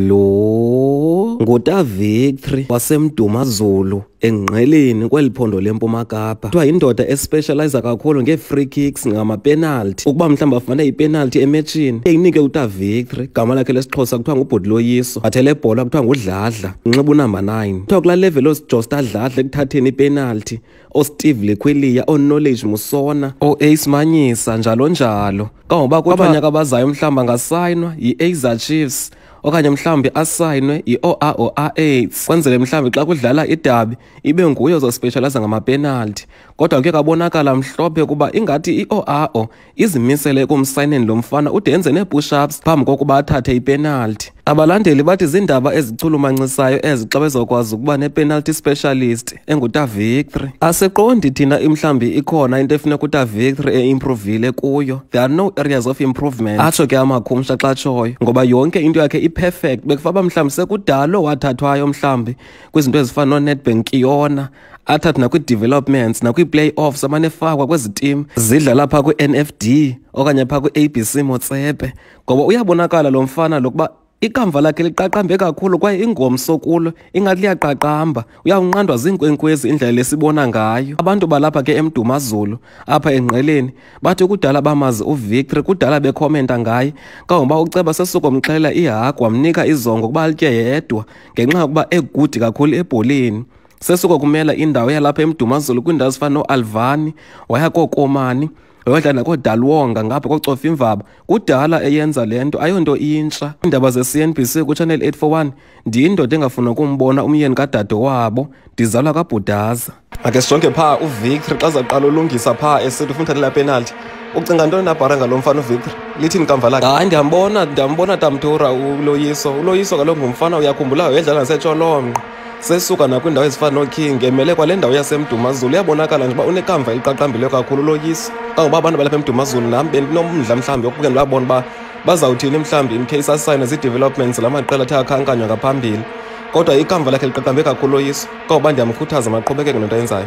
Lo nguta Victory waseMdumazulu engqeleni kweli phondo lempuma kapa kuthiwa yindoda especializa kakhulu ngee-free kicks ngamapenalti ukuba mhlawumbi afumane ipenalti emetshini eyinike uta victory gama lakhe lesixhosa kuthiwa ngubhuti loyiso bathe le bhola kuthiwa ngudladla unxiba unumber 9 kuthiwa kula level osijosta dladla ekuthatheni ipenalti oSteve Lekhweliya, oKnowledge Musona, oAce Manyisa njalo njalo. Kangoba kwabanye abazayo mhlawumbi angasayinwa yiAiza Chiefs okanye mhlawumbi asayinwe yi-OAOAAIDS kwenzele mhlawumbi xa kudlala idabi ibe nguye ozospeshalayiza ngamapenalti kodwa kuye kabonakala mhlophe kuba ingathi i-OAO izimisele ekumsayineni lo mfana ude enze nee-pushups phambi kokuba athathe ipenalti abalandeli bathi ziindaba ezichulumancisayo ezi xa bezokwazi ukuba nepenalty specialist engutavictory asiqondi thina imhlawumbi ikhona into efuneka utavictory eimprovile kuyo there are no areas of improvement atsho ke amakhumsha xa tshoyo ngoba yonke into yakhe iperfect bekufa uba mhlawumbi sekudalo wathathwayo mhlawumbi kwizinto ezifana noonetbank kiyona athathwe nakwi-developments nakwi-playoffs amane efakwa kwezi tim zidlala phaa kwi-nfd okanye phaa kwi-abc motsepe ngoba uyabonakala lo mfana lokuba ikamva lakhe liqaqambe kakhulu kwaye ingomso kulo ingathi liyaqaqamba uyawunqandwa ziinkwenkwezi indlela lesibona ngayo abantu balapha ke emdumazulu apha engqeleni bathi kudala bamazi uvictory kudala bekhomenta ngaye kangoba uceba sesukomxhela ihagu wamnika izongo ukuba litye yedwa ngenxa yokuba egudi kakhulu ebholeni sesikwakumela indawo yalapha emdumazulu kwiindawo ezifana noalvani waya kookomani wayodla nakoodalwonga ngapha kocofa imvaba kudala eyenza le nto ayonto intsha iindaba ze-cnbc kuchannel 841 ndiyindoda engafuna ukumbona umyeni kadade wabo ndizalwa kabhudaza ake sijonge phaa uvictory xa zaqala ulungisa phaa esithi ufuna uthathela penalty ucinga ntoni nabhara ngalo mfana uvictory lithini kamva lakhe hayi ndiyambona ndiyambona tamtura uloyiso uloyiso kaloku ngumfana uyakhumbulayo yedlala nasetsholonqo sesuka nakwiindawo ezifana nooking emele kwale ndawo yasemdumazulu uyabonakala nje uba unekamva eliqaqambileyo kakhulu loyisi kangoba abantu balapha emdumazulu nam bendinomdla mhlawumbi wokuke ndibabona uba bazawuthini mhlawumbi in case asayine zii-developments la maqela athe akhankanywa ngaphambili kodwa ikamva lakhe liqaqambe kakhulu loyisi kangoba ndiyamkhuthaza maqhubekeke nento ayenzayo